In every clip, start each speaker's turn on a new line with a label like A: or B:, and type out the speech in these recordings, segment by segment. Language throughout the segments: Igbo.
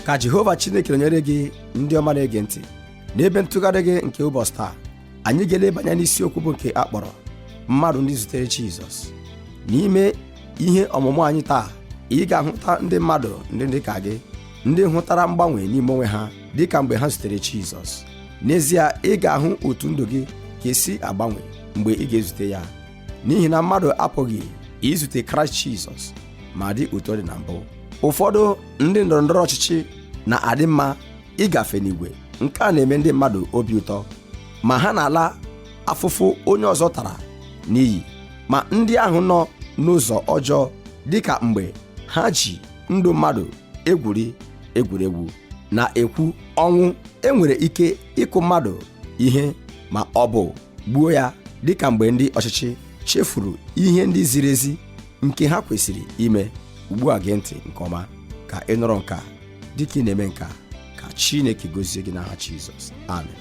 A: ka jehova chineke nọnyere gị ndị ọma na-ege ntị n'ebe ntụgharị gị nke ụbọchị taa anyị ga-eleba anya n'isiokwu bụ nke a kpọrọ mmadụ ndị zutere jizọs n'ime ihe ọmụmụ anyị taa ị ga-ahụta ndị mmadụ ndị dị ka gị ndị hụtara mgbanwe n'ime onwe ha dị ka mgbe ha zutere jizọs n'ezie ị ga-ahụ otu ndụ gị ga-esi agbanwe mgbe ị ga-ezute ya n'ihi na mmadụ apụghị izute kraịst jizọs ma dị otu ọ dị na mbụ ụfọdụ ndị ndọrọ ndọrọ ọchịchị na-adị mma ịgafe n'igwe nke a na-eme ndị mmadụ obi ụtọ ma ha na-ala afụfụ onye ọzọ tara n'iyi ma ndị ahụ nọ n'ụzọ ọjọọ dịka mgbe ha ji ndụ mmadụ egwuri egwuregwu na-ekwu ọnwụ enwere ike ịkụ mmadụ ihe ma ọ bụ gbuo ya dịka mgbe ndị ọchịchị chefuru ihe ndị ziri ezi nke ha kwesịrị ime ugbu a gee ntị nke ọma ka ị nụrụ nke a dịka ị na-eme nke a ka Chineke gozie gị n'aha Jizọs
B: amen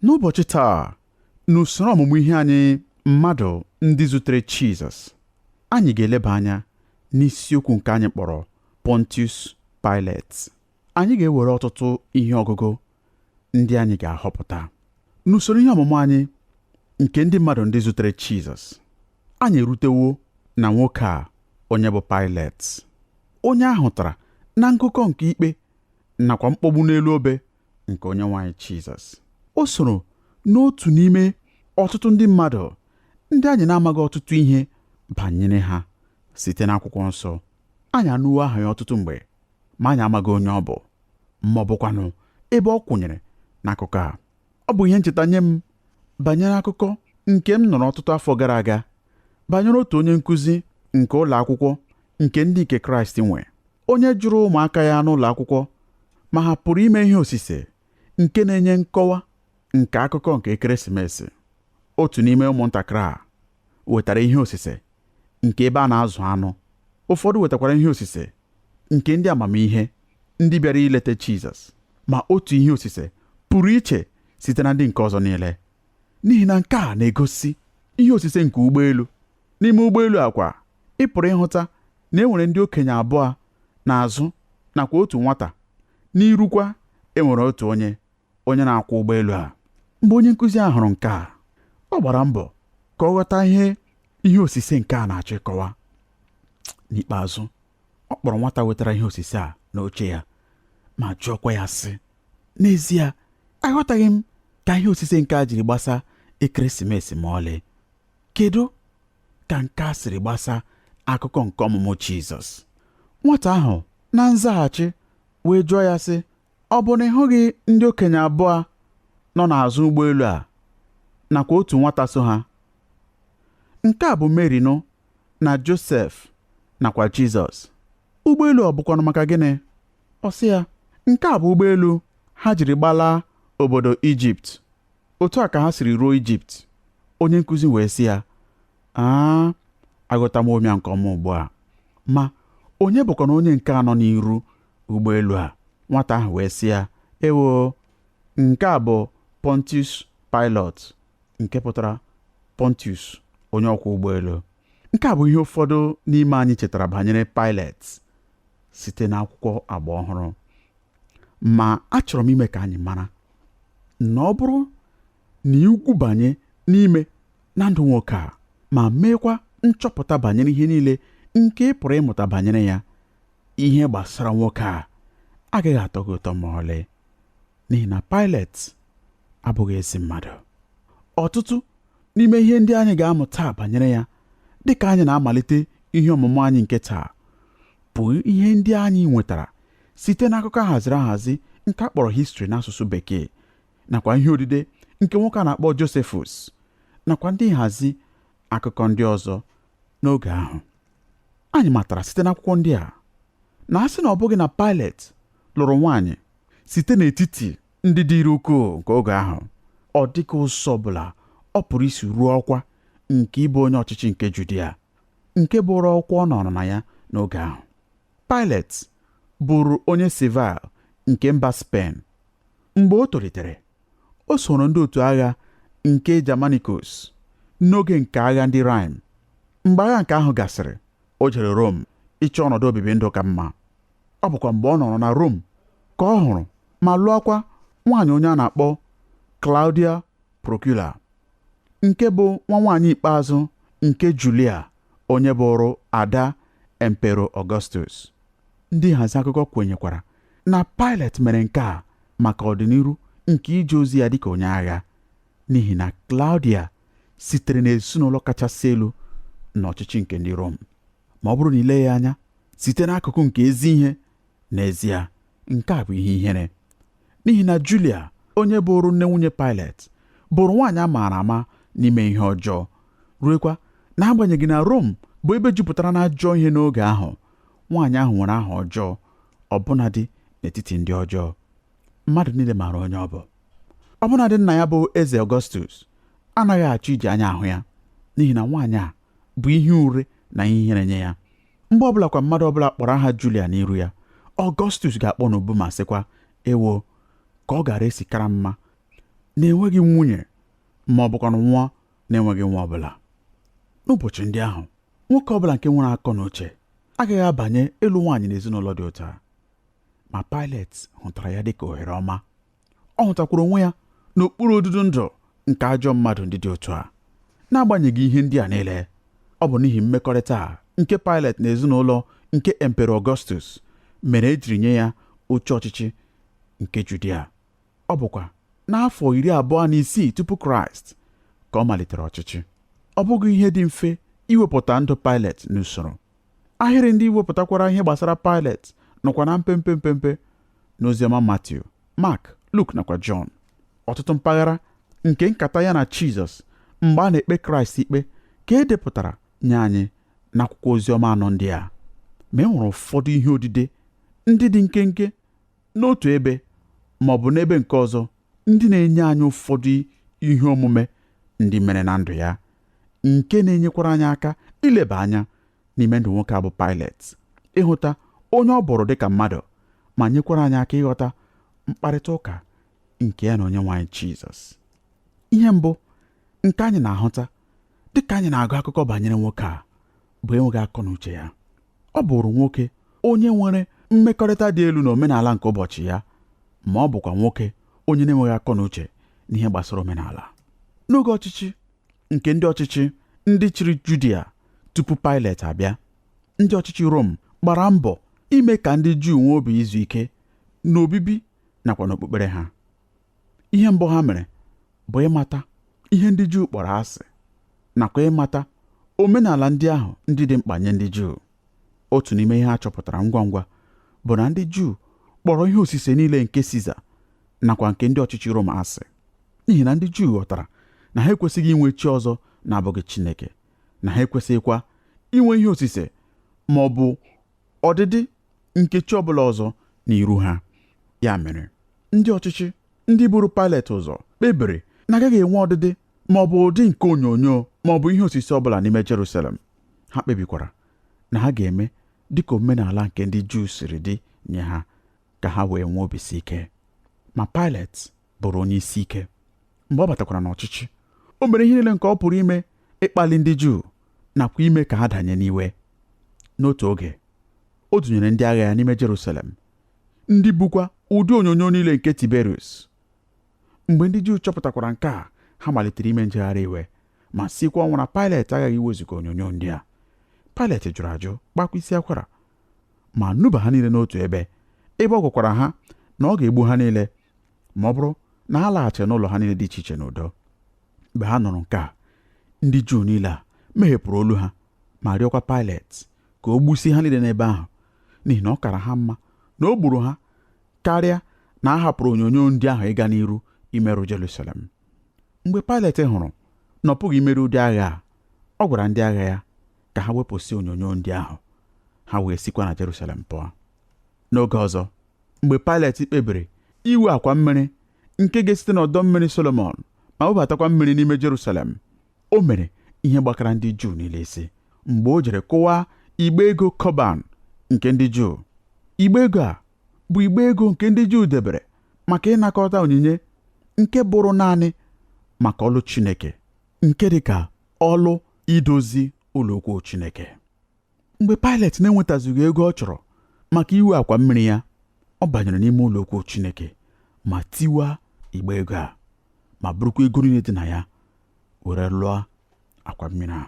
B: n'ụbọchị taa n'usoro ọmụmụ ihe anyị mmadụ ndị zutere Jizọs anyị ga-eleba anya n'isiokwu nke anyị kpọrọ Pontius Pilate anyị ga-ewere ọtụtụ ihe ọgụgụ ndị anyị ga-ahọpụta n'usoro ihe ọmụmụ anyị nke ndị mmadụ ndị zutere Jizọs anyị erutewo na nwoke a onye bụ Pilate onye a hụtara na ngụkọ nke ikpe nakwa mkpọgbu n'elu obe nke onye nwe anyị Jizọs o soro n'otu n'ime ọtụtụ ndị mmadụ ndị anyị na-amaghị ọtụtụ ihe banyere ha site n'akwụkwọ nsọ anyị anụwo aha ya ọtụtụ mgbe ma anyị amaghị onye ọ bụ ma ọ bụkwanụ ebe ọ kwụnyere n'akụkọ a ọ bụ ihe ncheta nye m banyere akụkọ nke m nụrụ ọtụtụ afọ gara aga banyere otu onye nkụzi nke ụlọ akwụkwọ nke ndị nke kraịst nwe onye jụrụ ụmụaka ya n'ụlọ akwụkwọ ma ha pụrụ ime ihe osise nke na-enye nkọwa nke akụkọ nke ekeresimesi otu n'ime ụmụntakịrị a wetara ihe osise nke ebe a na-azụ anụ ụfọdụ wetakwara ihe osise nke ndị amamihe ndị bịara ileta Jizọs ma otu ihe osise pụrụ iche site na ndị nke ọzọ niile n'ihi na nke a na-egosi ihe osise nke ụgbọelu N'ime ụgbọelu a kwa, ị pụrụ ịhụta na e nwere ndị okenye abụọ n'azụ nakwa otu nwata, n'iru kwa, e nwere otu onye, onye na-akwọ ụgbọelu a. Mgbe onye nkụzi a hụrụ nke a, ọ gbara mbọ ka ọ ghọta ihe ihe osise nke a na-achọ ịkọwa. N'ikpeazụ, ọ kpọrọ nwata wetara ihe osise a n'oche ya ma jụọkwa ya sị, N'ezie, aghọtaghị m ka ihe osise nke a jiri gbasa ekeresimesi ma ọlị. Kedu ka nke a siri gbasa akụkọ nke ọmụmụ Jizọs? Nwata ahụ na nzaghachi wee jụọ ya sị, Ọ bụ na ị hụghị ndị okenye abụọ nọ n'azụ ụgbọelu a nakwa otu nwata so ha? Nke a bụ Meri nụ na Josef nakwa Jizọs. Ụgbọelu ọ bụkwanụ maka gịnị? Ọ sị ya, Nke a bụ ụgbọelu ha jiri gbalaa obodo Ijipt. otu a ka ha siri ruo ijipt onye nkụzi wee sị ya aa aghọtawo m ya nke ọma ugbu a ma onye bụkwanụ onye nke a nọ n'iru ụgbọelu a nwata ahụ wee sị ya ewo nke a bụ pontius pilot nke pụtara pontius onye ọkwọ ụgbọelu nke a bụ ihe ụfọdụ n'ime anyị chetara banyere pailet site n'akwụkwọ agba ọhụrụ ma achọrọ m ime ka anyị mara na ọ bụrụ na i gwubanye n'ime na ndụ nwoke a ma meekwa nchọpụta banyere ihe niile nke ị pụrụ ịmụta banyere ya ihe gbasara nwoke a agaghị atọ gị ụtọ ma ọlị n'ihi na Pailet abụghị ezi mmadụ ọtụtụ N'ime ihe ndị anyị ga-amụ taa banyere ya, dị ka anyị na-amalite ihe ọmụmụ anyị nke taa, bụ ihe ndị anyị nwetara site n'akụkọ ahaziri ahazi nke a kpọrọ histri n'asụsụ Bekee nakwa ihe odide nke nwoke a na-akpọ Josephus nakwa ndị nhazi akụkọ ndị ọzọ n'oge ahụ. Anyị matara site n'akwụkwọ ndị a na a sị na ọ bụghị na Pailet lụrụ nwaanyị site n'etiti ndị dịrị ukwuu nke oge ahụ ọ dịghị ụzọ ọbụla ọ pụrụ isi ruo ọkwa nke ịbụ onye ọchịchị nke Judia nke bụrụ ọkwa ọ nọrọ na ya n'oge ahụ Pailet bụrụ onye Seville nke mba Spen mgbe o tolitere o soro ndị otu agha nke Germanicus n'oge nke agha ndị Rhine mgbe agha nke ahụ gasịrị o jere Rom ịchọ ọnọdụ obibi ndụ ka mma ọ bụkwa mgbe ọ nọrọ na Rom ka ọ hụrụ ma lụọkwa nwaanyị onye a na-akpọ Claudia Procula nke bụ nwa nwaanyị ikpeazụ nke Julia onye bụrụ ada Empero Augustus ndị nhazi akụkọ kwenyekwara na Pailet mere nke a maka ọdịniru nke ije ozi ya dịka onye agha n'ihi na Claudia sitere n'ezinụlọ kachasị elu n'ọchịchị nke ndị Rom ma ọ bụrụ na i lee ya anya site n'akụkụ nke ezi ihe n'ezie nke a bụ ihe ihere n'ihi na Julia onye bụrụ nne nwunye Pailet bụrụ nwaanyị a maara ama n'ime ihe ọjọọ ruekwa n'agbanyeghị na Rom bụ ebe jupụtara n'ajọ ihe n'oge ahụ nwaanyị ahụ nwere aha ọjọọ ọbụnadị n'etiti ndị ọjọọ mmadụ niile maara onye ọ bụ ọbụnadị nna ya bụ eze Ọgọstus anaghị achọ iji anya ahụ ya n'ihi na nwaanyị a bụ ihe ure na ihe ihere nye ya mgbe ọbụlakwa mmadụ ọbụla kpọrọ aha Julia n'iru ya Ọgọstus ga-akpọ n'ubu ma sịkwa ewo ka ọ gaara esi kara mma na enweghị m nwunye ma ọ bụkwanụ nwụọ na-enweghị nwa ọbụla n'ụbọchị ndị ahụ nwoke ọbụla nke nwere akọ na uche agaghị abanye ịlụ nwaanyị n'ezinụlọ dị otu a ma Pailet hụtara ya dịka ohere ọma ọ hụtakwara onwe ya n'okpuru odudu ndụ nke ajọ mmadụ ndị dị otu a n'agbanyeghị ihe ndị a niile ọ bụ n'ihi mmekọrịta a nke Pailet na ezinụlọ nke Emperor Augustus mere e jiri nye ya oche ọchịchị nke Judia ọ bụkwa n'afọ iri abụọ na isii tupu Kraịst ka ọ malitere ọchịchị ọ bụghị ihe dị mfe iwepụta ndụ Pailet n'usoro Ahịrị ndị wepụtakwara ihe gbasara Pailet nọkwa na mpempe mpempe n'Oziọma Matiu, Mak, Luk nakwa Jọn. Ọtụtụ mpaghara nke nkata ya na Jizọs mgbe a na-ekpe Kraịst ikpe ka e depụtara nye anyị n'akwụkwọ Oziọma anọ ndị a ma e nwere ụfọdụ ihe odide ndị dị nkenke n'otu ebe ma ọ bụ n'ebe nke ọzọ ndị na-enye anyị ụfọdụ ihe omume ndị mere na ndụ ya nke na-enyekwara anyị aka ileba anya n'ime ndụ nwoke a bụ Pailet ịhụta onye ọ bụrụ dị ka mmadụ ma nyekwara anyị aka ịghọta mkparịta ụka nke ya na Onyenwe anyị Jizọs ihe mbụ nke anyị na-ahụta dị ka anyị na-agụ akụkọ banyere nwoke a bụ enweghị akọ na uche ya ọ bụrụ nwoke onye nwere mmekọrịta dị elu na omenala nke ụbọchị ya ma ọ bụkwa nwoke onye na-enweghị akọ na uche n'ihe gbasara omenala n'oge ọchịchị nke ndị ọchịchị ndị chịrị Judia tupu Pailet abịa ndị ọchịchị Rom gbara mbọ ime ka ndị Juu nwee obi izu ike n'obibi nakwa n'okpukpere ha ihe mbụ ha mere bụ ịmata ihe ndị Juu kpọrọ asị nakwa ịmata omenala ndị ahụ ndị dị mkpa nye ndị Juu otu n'ime ihe a chọpụtara ngwa ngwa bụ na ndị Juu kpọrọ ihe osise niile nke Siza nakwa nke ndị ọchịchị Roma asị n'ihi na ndị Juu ghọtara na ha ekwesịghị inwe chi ọzọ na-abụghị Chineke na ha ekwesịghịkwa inwe ihe osise ma ọ bụ ọdịdị nke chi ọbụla ọzọ n'iru ha ya mere ndị ọchịchị ndị buru Pailet ụzọ kpebiri na agaghị enwe ọdịdị ma ọ bụ ụdị nke onyonyo ma ọ bụ ihe osise ọbụla n'ime Jerusalem ha kpebikwara na ha ga-eme dịka omenala nke ndị Juu siri dị nye ha ka ha wee nwee obisi ike ma Pailet bụrụ onye isi ike mgbe ọ batakwara n'ọchịchị o mere ihe niile nke ọ pụrụ ime ịkpali ndị Juu nakwa ime ka ha danye n'iwe n'otu oge o dunyere ndị agha ya n'ime Jerusalem ndị bukwa ụdị onyonyo niile nke Tiberius mgbe ndị Juu chọpụtakwara nke a ha malitere ime njegharị iwe ma sikwa ọnwụ na Pailet aghaghị iwezuga onyonyo ndị a Pailet jụrụ ajụ gbakwa isi akwara ma nuba ha niile n'otu ebe ebe ọ gwakwara ha na ọ ga-egbu ha niile ma ọ bụrụ na ha alaghachighị n'ụlọ ha niile dị iche iche n'udo mgbe ha nụrụ nke a ndị Juu niile a meghepụrụ olu ha ma rịọkwa Pailet ka o gbusie ha niile n'ebe ahụ n'ihi na ọ kara ha mma na o gburu ha karịa na a hapụrụ onyonyo ndị ahụ ịga n'iru imerụ Jerusalem mgbe Pailet hụrụ na ọ pụghị imeri ụdị agha a ọ gwara ndị agha ya ka ha wepụsị onyonyo ndị ahụ ha wee sikwa na Jerusalem pụọ N'oge ọzọ, mgbe Pailet kpebiri iwu akwa mmiri nke ga-esite n'ọdọ mmiri Solomọn ma webatakwa mmiri n'ime Jerusalem, o mere ihe gbakara ndị Juu niile isi mgbe o jere kụwaa igbe ego Kọban nke ndị Juu. Igbe ego a bụ igbe ego nke ndị Juu debere maka ịnakọta onyinye nke bụrụ naanị maka ọlụ Chineke, nke dị ka ọlụ idozi ụlọ ukwu Chineke. mgbe Pailet na-enwetazughị ego ọ chọrọ maka iwu akwa mmiri ya ọ banyere n'ime ụlọ ukwu Chineke ma tiwaa igbe ego a ma burukwa ego niile dị na ya were lụọ akwa mmiri a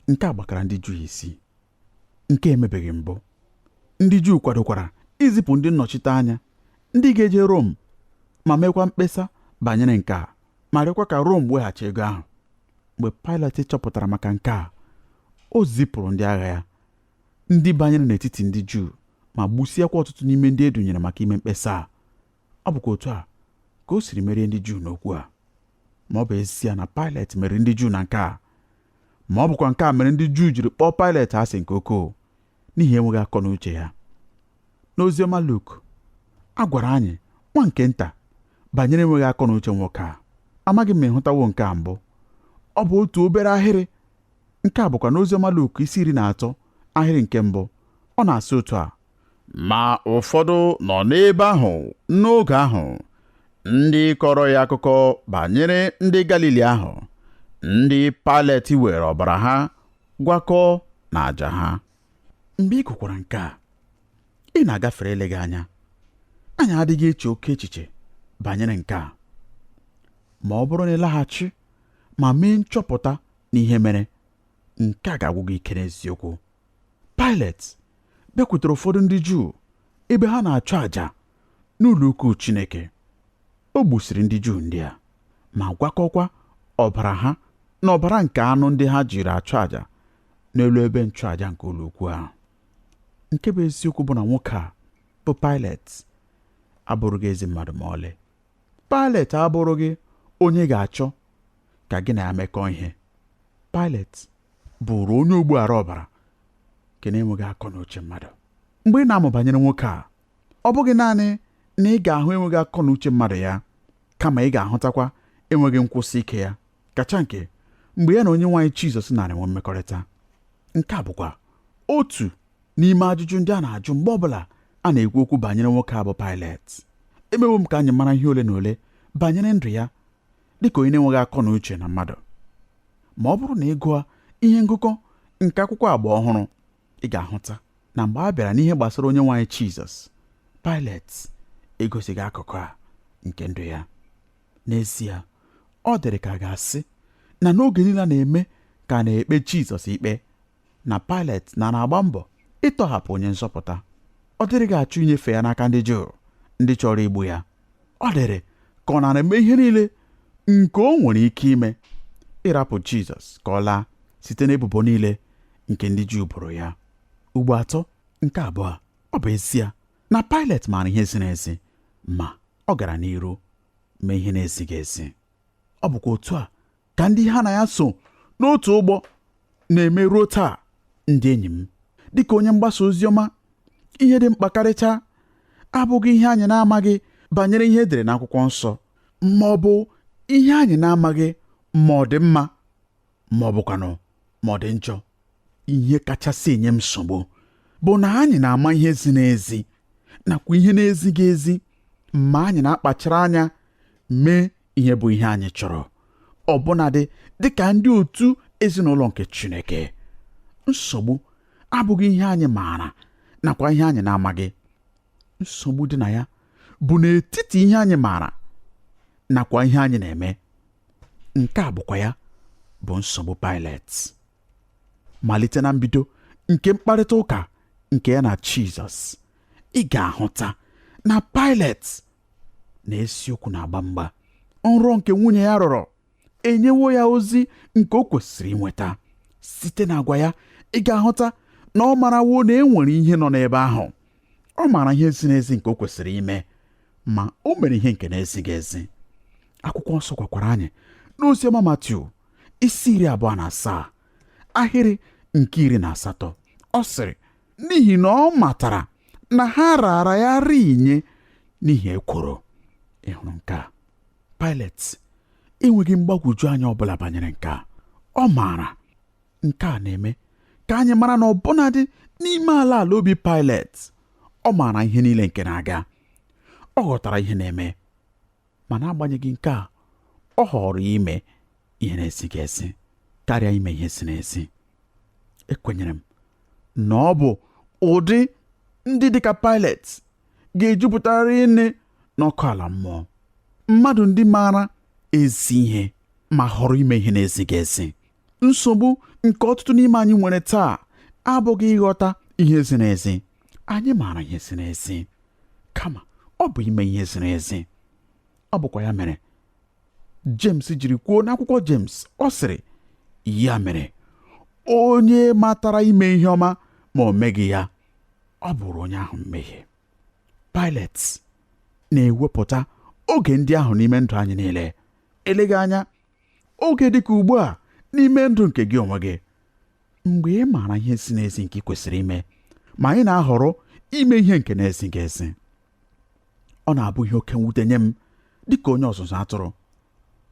B: nke a gbakara ndị Juu isi nke emebeghị mbụ ndị Juu kwadokwara izipụ ndị nnọchite anya ndị ga-eje Rom ma meekwa mkpesa banyere nke a ma rịọkwa ka Rom weghachi ego ahụ mgbe Pailet chọpụtara maka nke a o zipụrụ ndị agha ya ndị banyere n'etiti ndị Juu ma gbusịakwa ọtụtụ n'ime ndị e dunyere maka ime mkpesa a ọ bụkwa otu a ka o siri merie ndị Juu n'okwu a ma ọ bụ ezie na Pailet meriri ndị Juu na nke a ma ọ bụkwa nke a mere ndị Juu jiri kpọọ Pailet asị nke ukwuu n'ihi enweghị akọ na uche ya n'oziọma Luk a gwara anyị nwa nke nta banyere enweghị akọ na uche nwoke a amaghị m ma ị hụtawo nke a mbụ ọ bụ otu obere ahịrị nke a bụkwa n'oziọma Luk isi iri na atọ ahịrị nke mbụ ọ na-asị otu a ma ụfọdụ nọ n'ebe ahụ n'oge ahụ ndị kọrọ ya akụkọ banyere ndị Galili ahụ ndị Paịlet were ọbara ha gwakọọ na àjà ha mgbe ị gụkwara nke a ị na-agafere eleghị anya anyị adịghị eche oke echiche banyere nke a ma ọ bụrụ na ị laghachi ma mee nchọpụta n'ihe mere nke a ga-agwụ gị ike n'eziokwu Paịlet bịakwutere ụfọdụ ndị Juu ebe ha na-achụ àjà n'ụlọ ukwu Chineke. O gbusiri ndị Juu ndị a ma gwakọkwa ọbara ha na ọbara nke anụ ndị ha jiri achụ àjà n'elu ebe nchụàja nke ụlọ ukwu ahụ. Nke bụ eziokwu bụ na nwoke a bụ Pailet abụrụghị ezi mmadụ ma ọlị. Pailet abụrụghị onye ga-achọ ka gị na ya mekọọ ihe. Pailet bụụrụ onye ogbu ara ọbara nke na-enweghị akọ na uche mmadụ. Mgbe ị na-amụ banyere nwoke a ọ bụghị naanị na ị ga-ahụ enweghị akọ na uche mmadụ ya kama ị ga-ahụtakwa enweghị nkwụsị ike ya kacha nke mgbe ya na Onyenwe anyị Jizọs nara enwe mmekọrịta nke a bụkwa otu n'ime ajụjụ ndị a na-ajụ mgbe ọbụla a na-ekwu okwu banyere nwoke a bụ Pailet emewo m ka anyị mara ihe ole na ole banyere ndụ ya dịka onye na-enweghị akọ na uche na mmadụ ma ọ bụrụ na ị gụọ ihe ngụkọ nke akwụkwọ agba ọhụrụ ị ga-ahụta na mgbe a bịara n'ihe gbasara Onyenwe anyị Jizọs Pailet egosighị akụkụ a nke ndụ ya n'ezie ọ dịrị ka a ga-asị na n'oge niile a na-eme ka a na-ekpe Jizọs ikpe na Pailet na na-agba mbọ ịtọhapụ onye nzọpụta ọ dịrịghị achọ inyefe ya n'aka ndị Juu ndị chọrọ igbu ya ọ dịrị ka ọ nara eme ihe niile nke o nwere ike ime ịrapụ Jizọs ka ọ laa site n'ebubo niile nke ndị Juu boro ya ugbo atọ nke abụọ ọ bụ ezie na Pailet maara ihe ziri ezi ma ọ gara n'iru mee ihe na-ezighị ezi ọ bụkwa otu a ka ndị ha na ya so n'otu ụgbọ na-eme ruo taa ndị enyi m dịka onye mgbasa ozi ọma ihe dị mkpa karịcha abụghị ihe anyị na-amaghị banyere ihe e dere n'akwụkwọ nsọ ma ọ bụ ihe anyị na-amaghị ma ọ dị mma ma ọ bụkwanụ ma ọ dị njọ ihe kachasị enye m nsogbu bụ na anyị na-ama ihe ziri ezi nakwa ihe na-ezighị ezi ma anyị na-akpachara anya mee ihe bụ ihe anyị chọrọ ọbụnadị dị ka ndị otu ezinụlọ nke Chineke nsogbu abụghị ihe anyị maara nakwa ihe anyị na-amaghị nsogbu dị na ya bụ n'etiti ihe anyị maara nakwa ihe anyị na-eme nke a bụkwa ya bụ nsogbu Pailet malite na mbido nke mkparịta ụka nke ya na Jizọs ị ga-ahụta na Pailet na eziokwu na-agba mgba nrọ nke nwunye ya rọrọ enyewo ya ozi nke o kwesịrị inweta site n'agwa ya ị ga-ahụta na ọ marawo na e nwere ihe nọ n'ebe ahụ ọ maara ihe ziri ezi nke o kwesịrị ime ma o mere ihe nke na-ezighị ezi akwụkwọ nsọ gwakwara anyị n'oziọma Matiu isi iri abụọ na asaa ahịrị nke iri na asatọ ọ sịrị n'ihi na ọ matara na ha raara ya ri nye n'ihi ekworo ị hụrụ nke a Pailet enweghị mgbagwoju anya ọbụla banyere nke a ọ maara nke a na-eme ka anyị mara na ọbụnadị n'ime ala ala obi Pailet ọ maara ihe niile nke na-aga ọ ghọtara ihe na-eme ma n'agbanyeghị nke a ọ họọrọ ime ihe na-ezighị ezi karịa ime ihe ziri ezi ekwenyere m na ọ bụ ụdị ndị dịka Pailet ga-ejupụta rinne n'ọkụ ala mmụọ mmadụ ndị maara ezi ihe ma họrọ ime ihe na-ezighị ezi nsogbu nke ọtụtụ n'ime anyị nwere taa abụghị ịghọta ihe ziri ezi anyị maara ihe ziri ezi kama ọ bụ ime ihe ziri ezi ọ bụkwa ya mere James jiri kwuo n'akwụkwọ James ọ sịrị ya mere onye matara ime ihe ọma ma o meghị ya ọ bụụrụ onye ahụ mmehie Pailet na-ewepụta oge ndị ahụ n'ime ndụ anyị niile eleghị anya oge dịka ugbu a n'ime ndụ nke gị onwe gị mgbe ị maara ihe ziri ezi nke ị kwesịrị ime ma anyị na-ahọrọ ime ihe nke na-ezighị ezi ọ na-abụ ihe oke mwute nye m dị ka onye ọzụzụ atụrụ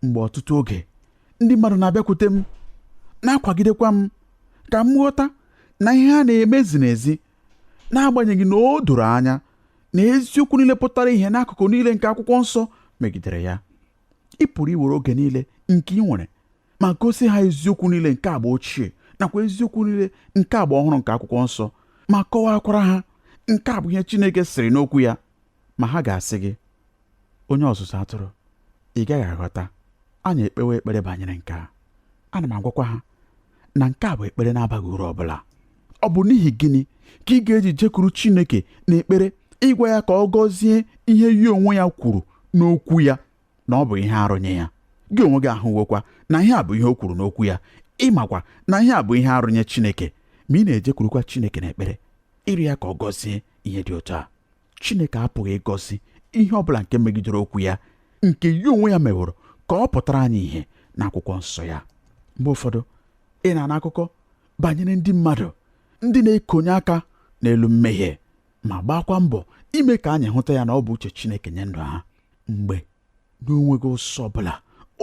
B: mgbe ọtụtụ oge ndị mmadụ na-abịakwute m na-akwagidekwa m ka m ghọta na ihe ha na-eme ziri ezi n'agbanyeghị na o doro anya na eziokwu niile pụtara ihe n'akụkụ niile nke akwụkwọ nsọ megidere ya ị pụrụ iwere oge niile nke ị nwere ma gosi ha eziokwu niile nke agba ochie nakwa eziokwu niile nke agba ọhụrụ nke akwụkwọ nsọ ma kọwakwara ha nke a bụ ihe Chineke sịrị n'okwu ya ma ha ga-asị gị onye ọzụzụ atụrụ ị gaghị aghọta anyị ekpewo ekpere banyere nke a ana m agwakwa ha na nke a bụ ekpere na-abaghị uru ọbụla ọ bụ n'ihi gịnị ka ị ga-eji jekwuru Chineke n'ekpere ịgwa ya ka ọ gọzie ihe ya onwe ya kwuru n'okwu ya na ọ bụ ihe arụ nye ya gị onwe gị ahụwokwa na ihe a bụ ihe o kwuru n'okwu ya ị makwa na ihe a bụ ihe arụ nye Chineke ma ị na-ejekwurukwa Chineke n'ekpere ịrịọ ya ka ọ gọzie ihe dị otu a Chineke apụghị ịgọzi ihe ọ bụla nke megidere okwu ya nke ya onwe ya meworo ka ọ pụtara anyị ihe n'akwụkwọ nsọ ya mgbe ụfọdụ ị na-anụ akụkọ banyere ndị mmadụ ndị na-ekonye aka n'elu mmehie ma gbaakwa mbọ ime ka anyị hụta ya na ọ bụ uche Chineke nye ndụ ha mgbe na o nweghị ụzọ ọbụla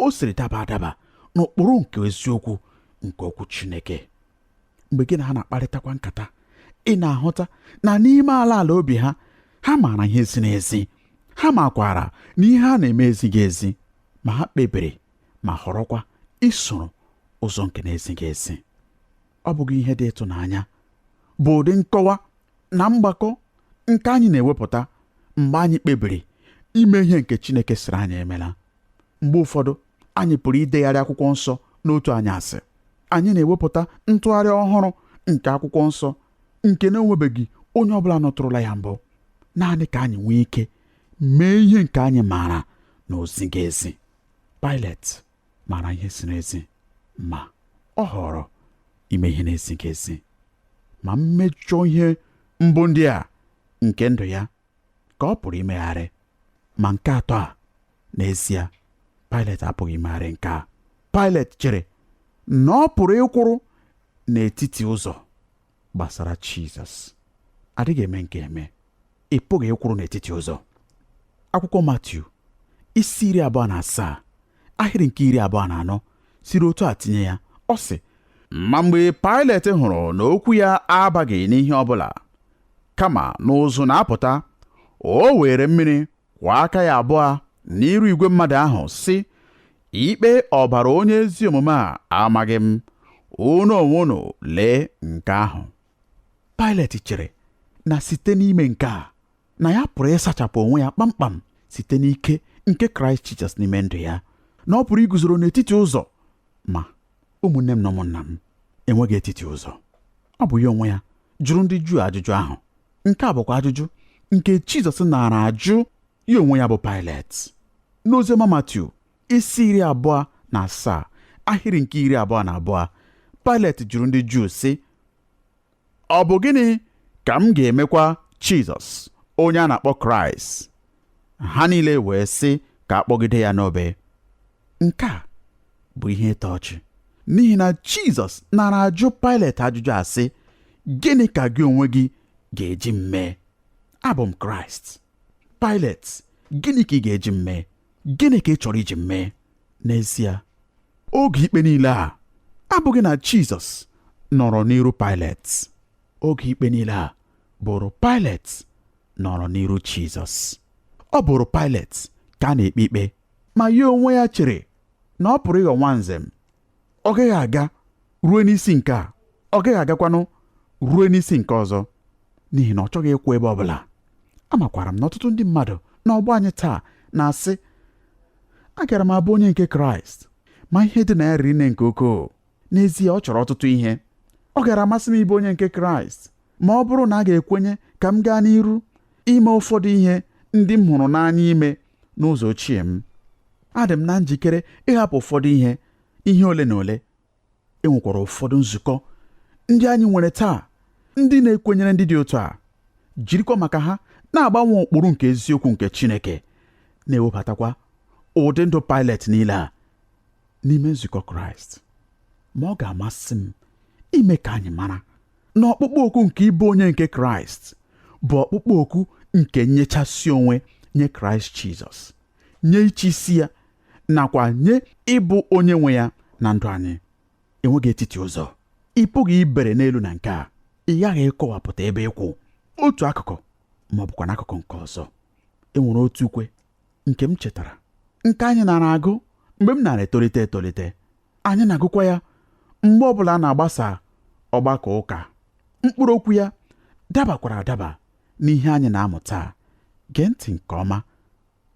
B: o siri daba adaba n'ụkpụrụ nke eziokwu nke okwu Chineke mgbe gị na ha na-akparịtakwa nkata ị na-ahụta na n'ime ala ala obi ha ha maara ihe ziri ezi ha makwara na ihe ha na-eme ezighị ezi ma ha kpebiri ma họrọkwa isoro ụzọ nke na-ezighị ezi ọ bụghị ihe dị ịtụnanya bụ ụdị nkọwa na mgbakọ nke anyị na-ewepụta mgbe anyị kpebiri ime ihe nke Chineke sịrị anyị emela mgbe ụfọdụ anyị pụrụ idegharị akwụkwọ nsọ n'otu anyasị anyị na-ewepụta ntụgharị ọhụrụ nke akwụkwọ nsọ nke na-enwebeghị onye ọbụla nụtụrụla ya mbụ naanị ka anyị nwee ike mee ihe nke anyị maara na o zighị ezi Pailet maara ihe ziri ezi ma ọ họọrọ ime ihe na-ezighị ezi ma mmejọ ihe mbụ ndị a nke ndụ ya ka ọ pụrụ imegharị ma nke atọ a n'ezie Pailet apụghị imegharị nke a Pailet chere na ọ pụrụ ịkwụrụ n'etiti ụzọ gbasara Jizọs adịghị eme nke a eme ị pụghị ịkwụrụ n'etiti ụzọ akwụkwọ Matiu isi iri abụọ na asaa ahịrị nke iri abụọ na anọ siri otu a tinye ya ọ sị ma mgbe Pailet hụrụ na okwu ya abaghị n'ihe ọ bụla kama na ụzụ na-apụta o were mmiri kwọọ aka ya abụọ n'iru igwe mmadụ ahụ sị ikpe ọbara onye ezi omume a amaghị m unu onwe unu lee nke ahụ Pailet chere na site n'ime nke a na ya pụrụ ịsachapụ onwe ya kpamkpam site n'ike nke Kraịst Jizọs n'ime ndụ ya na ọ pụrụ iguzoro n'etiti ụzọ ma ụmụnne m na ụmụnna m enweghị etiti ụzọ ọ bụ ya onwe ya jụrụ ndị Juu ajụjụ ahụ nke a bụkwa ajụjụ nke Jizọs naara ajụ ya onwe ya bụ Pailet n'oziọma Matiu isi iri abụọ na asaa ahịrị nke iri abụọ na abụọ Pailet jụrụ ndị Juu sị ọ bụ gịnị ka m ga-emekwa Jizọs onye a na-akpọ Kraịst ha niile wee sị ka a kpọgide ya n'obe nke a bụ ihe ịtọ ọchị n'ihi na Jizọs naara ajụ Pailet ajụjụ a sị gịnị ka gị onwe gị ga-eji m mee abụ m Kraịst Pailet gịnị ka ị ga-eji m mee gịnị ka ị chọrọ iji m mee n'ezie oge ikpe niile a abụghị na Jizọs nọrọ n'iru Pailet oge ikpe niile a bụrụ Pailet nọrọ n'iru Jizọs ọ bụrụ Pailet ka a na-ekpe ikpe ma ya onwe ya chere na ọ pụrụ ịghọ nwanze m ọ gaghị aga ruo n'isi nke a ọ gaghị agakwanụ ruo n'isi nke ọzọ n'ihi na ọ chọghị ịkwụ ebe ọ bụla amakwara m na ọtụtụ ndị mmadụ na ọgbọ anyị taa na-asị agara m abụ onye nke kraịst ma ihe dị na ya riri nne nke ukwuu n'ezie ọ chọrọ ọtụtụ ihe ọ gara amasị m ịbụ onye nke kraịst ma ọ bụrụ na a ga-ekwenye ka m gaa n'iru ime ụfọdụ ihe ndị m hụrụ n'anya ime n'ụzọ ochie m adị m na njikere ịhapụ ụfọdụ ihe ihe ole na ole e nwekwara ụfọdụ nzukọ ndị anyị nwere taa ndị na-ekwenyere ndị dị otu a jirikwa maka ha na-agbanwe ụkpụrụ nke eziokwu nke Chineke na-ewebatakwa ụdị ndụ Pailet niile a n'ime nzukọ Kraịst ma ọ ga-amasị m ime ka anyị mara na ọkpụkpọ oku nke ịbụ onye nke kraịst bụ ọkpụkpọ oku nke nnyechasị onwe nye kraịst jizọs nye ịchị isi ya nakwa nye ịbụ onye nwe ya na ndụ anyị enweghị etiti ụzọ ị pụghị ibere n'elu na nke a ị ghaghị ịkọwapụta ebe ị kwụ otu akụkụ ma ọ bụkwa n'akụkụ nke ọzọ e nwere otu ukwe nke m chetara nke anyị nara agụ mgbe m nara etolite etolite anyị na-agụkwa ya mgbe ọbụla a na-agbasa ọgbakọ ụka mkpụrụ okwu ya dabakwara adaba n'ihe anyị na-amụ taa gee ntị nke ọma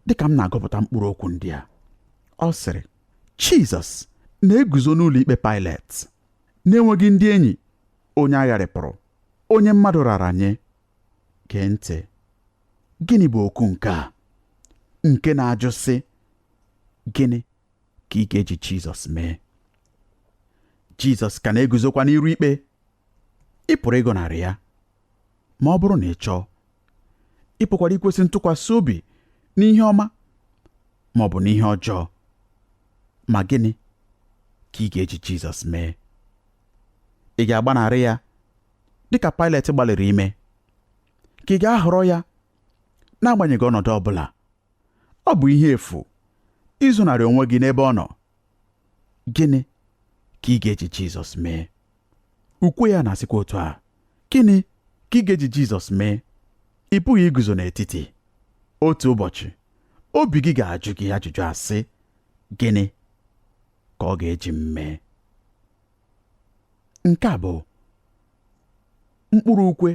B: dịka m na-agụpụta mkpụrụ okwu ndị a ọ sịrị Jizọs na-eguzo n'ụlọ ikpe Pailet na-enweghị ndị enyi onye a gharịpụrụ onye mmadụ rara nye gee ntị gịnị bụ oku nke a nke na-ajụ sị gịnị ka ị ga-eji Jizọs mee Jizọs ka na-eguzokwa n'iru ikpe ị pụrụ ịgọnarị ya ma ọ bụrụ na ị chọọ ị pụkwara ikwesị ntụkwasị obi n'ihe ọma ma ọ bụ n'ihe ọjọọ ma gịnị ka ị ga-eji Jizọs mee ị ga-agbanarị ya dịka Pailet gbalịrị ime ka ị ga-ahọrọ ya n'agbanyeghị ọnọdụ ọ bụla ọ bụ ihe efu izonarị onwe gị n'ebe ọ nọ gịnị ka ị ga-eji Jizọs mee ukwe ya na-asịkwa otu a gịnị ka ị ga-eji Jizọs mee ị pụghị iguzo n'etiti otu ụbọchị obi gị ga-ajụ gị ajụjụ asị gịnị ka ọ ga-eji m mee nke a bụ mkpụrụ ukwe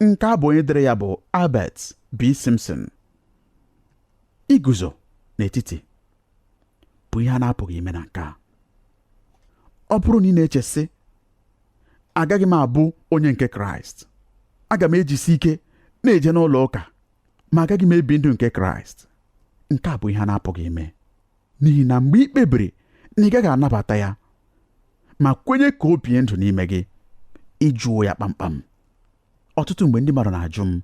B: nke a bụ onye dere ya bụ Albert B. Simpson iguzo n'etiti bụ ihe a na-apụghị ime na nke a ọ bụrụ na ị na-eche sị agaghị m abụ onye nke kraịst aga m ejisi ike na-eje n'ụlọ ụka ma agaghị m ebi ndụ nke kraịst nke a bụ ihe a na-apụghị ime n'ihi na mgbe ị kpebiri na ị gaghị anabata ya ma kwenye ka o bie ndụ n'ime gị ị jụwo ya kpamkpam ọtụtụ mgbe ndị mmadụ na-ajụ m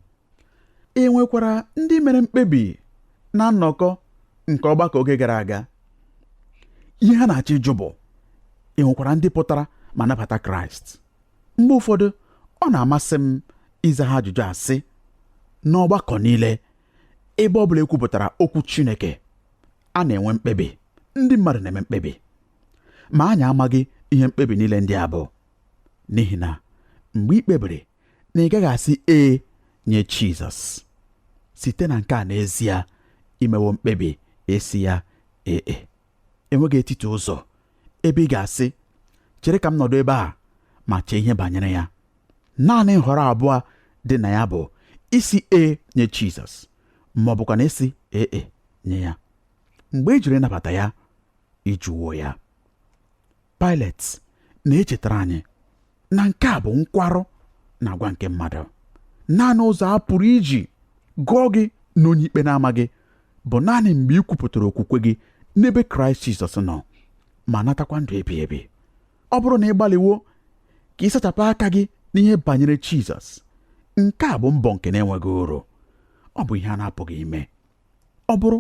B: e nwekwara ndị mere mkpebi na nnọkọ nke ọgbakọ oge gara aga ihe ha na-achọ ịjụ bụ e nwekwara ndị pụtara ma nabata kraịst mgbe ụfọdụ ọ na-amasị m ịza ha ajụjụ a sị n'ọgbakọ niile ebe ọ bụla e kwupụtara okwu chineke a na-enwe mkpebi ndị mmadụ na-eme mkpebi ma anyị amaghị ihe mkpebi niile ndị a bụ n'ihi na mgbe ị kpebiri na ị gaghị asị ee nye Jizọs site na nke a n'ezie i mewo mkpebi ịsị ya ee e. enweghị etiti ụzọ ebe ị ga-asị chere ka m nọdụ ebe a ma chee ihe banyere ya naanị nhọrọ abụọ dị na ya bụ ịsị ee nye Jizọs ma ọ bụkwanụ ịsị ee e nye ya mgbe ị jụrụ ịnabata ya ị jụwo ya Paịlet na-echetara anyị na nke a bụ nkwarụ na agwa nke mmadụ naanị ụzọ a pụrụ iji gụọ gị na onye ikpe na-amaghị bụ naanị mgbe ị kwupụtara okwukwe gị n'ebe Kraịst Jizọs nọ ma natakwa ndụ ebighị ebi ọ bụrụ na ị gbalịwo ka ị sachapụ aka gị n'ihe banyere Jizọs nke a bụ mbọ nke na-enweghị uru ọ bụ ihe a na-apụghị ime ọ bụrụ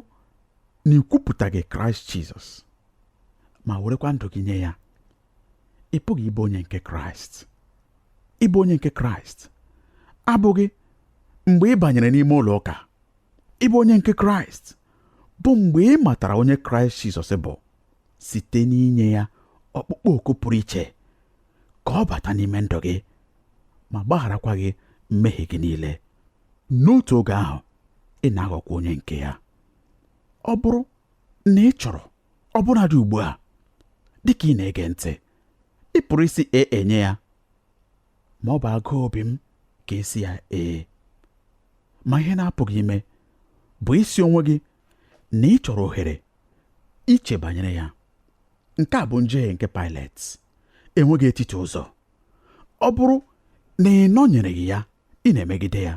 B: na ị kwupụtaghị Kraịst Jizọs ma werekwa ndụ gị nye ya ị pụghị ịbụ onye nke Kraịst ịbụ onye nke Kraịst abụghị mgbe ị banyere n'ime ụlọ ụka ịbụ onye nke Kraịst bụ mgbe ị matara onye Kraịst Jizọs bụ site n'inye ya ọkpụkpọ oku pụrụ iche ka ọ bata n'ime ndụ gị ma gbagharakwa gị mmehie gị niile n'otu oge ahụ ị na-aghọkwa onye nke ya ọ bụrụ na ị chọrọ ọbụnadị ugbu a dị ka ị na-ege ntị ị pụrụ ịsị ee nye ya ma ọ bụ agụụ obi m ka ị sị ya ee ma ihe na-apụghị ime bụ ịsị onwe gị na ị chọrọ ohere iche banyere ya nke a bụ njehie nke Paịlet enweghị etiti ụzọ ọ bụrụ na ị nọnyereghị ya ị na-emegide ya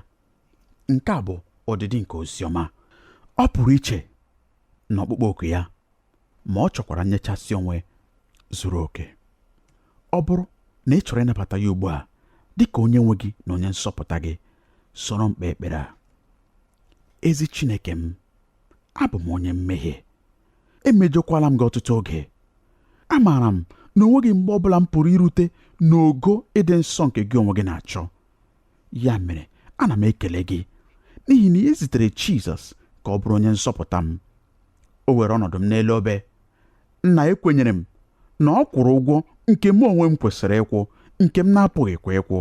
B: nke a bụ ọdịdị nke oziọma ọ pụrụ iche na ọkpụkpọ oku ya ma ọ chọkwara nnyechasị onwe zuru oke ọ bụrụ na ị chọrọ ịnabata ya ugbu a dị ka onye nwe gị na onye nzọpụta gị soro m kpee ekpere a ezi Chineke m abụ m onye mmehie emejọkwala m gị ọtụtụ oge amaara m na o nweghị mgbe ọbụla m pụrụ irute n'ogo ịdị nsọ nke gị onwe gị na-achọ ya mere ana m ekele gị n'ihi na i zitere Jizọs ka ọ bụrụ onye nzọpụta m o were ọnọdụ m n'elu obe Nna ekwenyere m na ọ kwụrụ ụgwọ nke mụ onwe m kwesịrị ịkwụ nke m na-apụghịkwa ịkwụ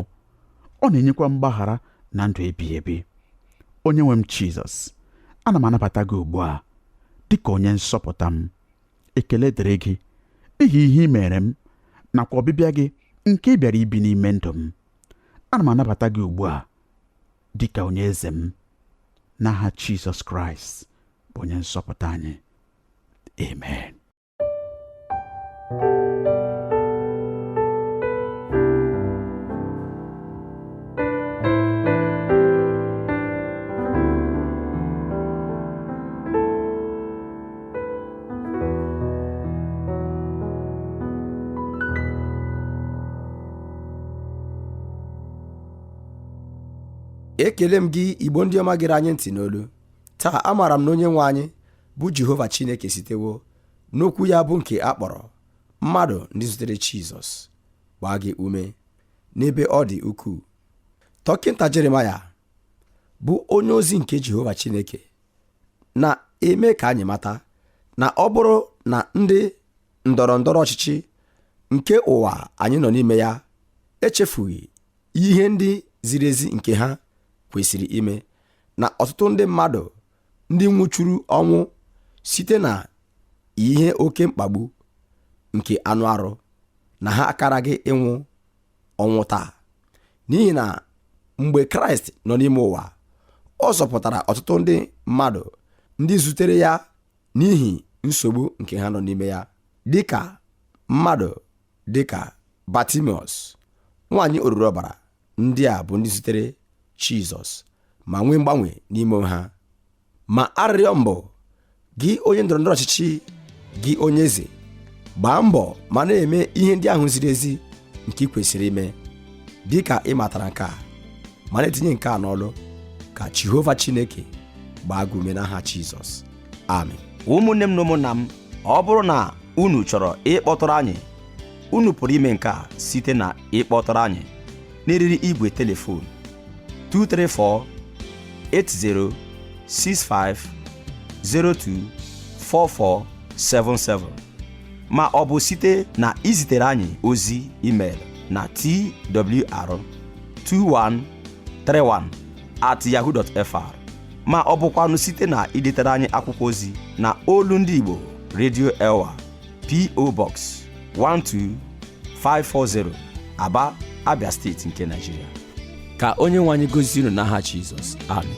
B: ọ na-enyekwa mgbaghara na ndụ ebighị ebi onye nwe m Jizọs ana m anabata gị ugbu a dị ka onye nzọpụta m ekele dịrị gị n'ihi ihe i meere m nakwa ọbịbịa gị nke ị bịara ibi n'ime ndụ m ana m anabata gị ugbu a dị ka onye eze m n'aha Jizọs Kraịst bụ onye nzọpụta anyị Amen.
A: ekele m gị igbo ndị ọma gere anyị ntị n'olu taa amaara m na onye nwe anyị bụ jehova chineke sitewo n'okwu ya bụ nke a kpọrọ mmadụ ndị zutere jizọs gbaa gị ume n'ebe ọ dị ukwuu dọkịnta jeremaya bụ onye ozi nke jehova chineke na-eme ka anyị mata na ọ bụrụ na ndị ndọrọ ndọrọ ọchịchị nke ụwa anyị nọ n'ime ya echefughị ihe ndị ziri ezi nke ha kwesịrị ime na ọtụtụ ndị mmadụ ndị nwụchuru ọnwụ site na ihe oke mkpagbu nke anụ arụ na ha akaraghị ịnwụ ọnwụ taa n'ihi na mgbe kraịst nọ n'ime ụwa ọ zọpụtara ọtụtụ ndị mmadụ ndị zutere ya n'ihi nsogbu nke ha nọ n'ime ya dịka mmadụ dịka batimiọs nwaanyị oruru ọbara ndị a bụ ndị zutere Jizọs ma nwee mgbanwe n'ime ha ma arịrịọ m bụ gị onye ndọrọ ndọrọ ọchịchị gị onye eze gbaa mbọ ma na-eme ihe ndị ahụ ziri ezi nke i kwesịrị ime dị ka ị matara nke a ma na-etinye nke a n'ọlụ ka Jehova Chineke gbaa gị ume n'aha Jizọs amen ụmụnne m na
C: ụmụnna m ọ bụrụ na unu chọrọ ịkpọtụrụ anyị unu pụrụ ime nke a site na ịkpọtụrụ anyị n'eriri igwe telefon 234 80 65 02 4477 ma ọ bụ site na izitere anyị ozi email na twr2131 at yahoo.fr ma ọ bụkwanụ site na idetere anyị akwụkwọ ozi na olu ndị Igbo Radio Elwa PO Box 12540
A: Aba
C: Abia
A: steeti nke Nigeria
C: ka onye
A: nwe anyị
C: gozie
A: unu n'aha Jizọs amen